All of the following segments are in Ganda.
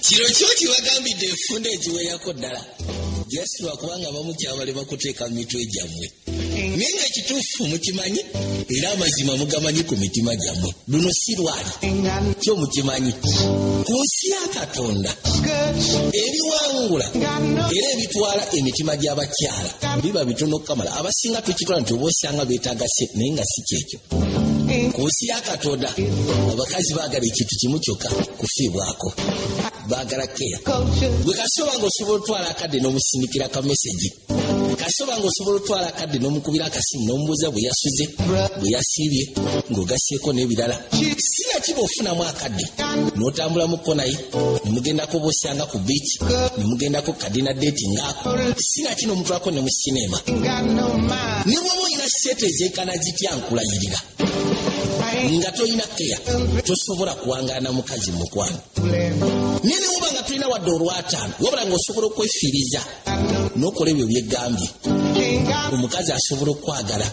kino kyo kibagambidde enfunda egiwerako ddala just lwakuba nga bamukyabale bakuteeka mu mitwe gyammwe naye nga ekituufu mukimanyi era amazima mugamanyi ku mitima gyammwe luno si lwali kyo mukimanyi ku nsi ya katonda ebiwangula era ebitwala emitima gy'abakyala biba bitono okukamala abasinga tukitwala nti oba osanga beetagase naye nga si kyekyo ku nsi ya katonda abakazi baagala ekintu kimu kyokka kufiibwako baagala keya gwe kasoba nga osobola otwala akadde n'omusindikira ka mesegi kasoba nga osobola otwala akadde n'omukubira akasimu n'omubuuza bwe yasuze bwe yasiibye ng'ogasseeko n'ebirala sina kiba ofunamu akadde n'otambula mu kko naye ne mugendako bwosanga ku biiki ne mugendako Dina deti ngako sina kino omuntu ako ne mu sinema ne bwoba olina sente ezenkana zitya nkulayirira nga tolina keya tosobola kuwangaana mukazi mukwano naye ne woba nga tulina wadde olwataano wabula nga osobola okwefiiriza n'okola ebyo byegambye omukazi asobola okukwagala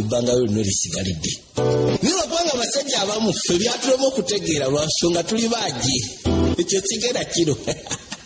ebbanga lyo lino lisigalidde naye lwakubanga abasajja abamu fe byatulema okutegeera lwansonga tuli baagi ekyo kigera kino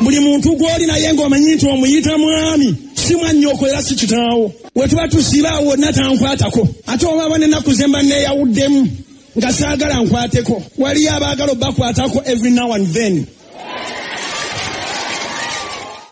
buli muntu gw'oli naye ng'omanyi nti omuyita mwami si mwannyoko era si kitaawo we tuba tusiba awo wonna tankwatako ate obaaba n'ennaku ze mba neeyawuddemu nga saagala nkwateko waliyo abaagala obakwatako every now and then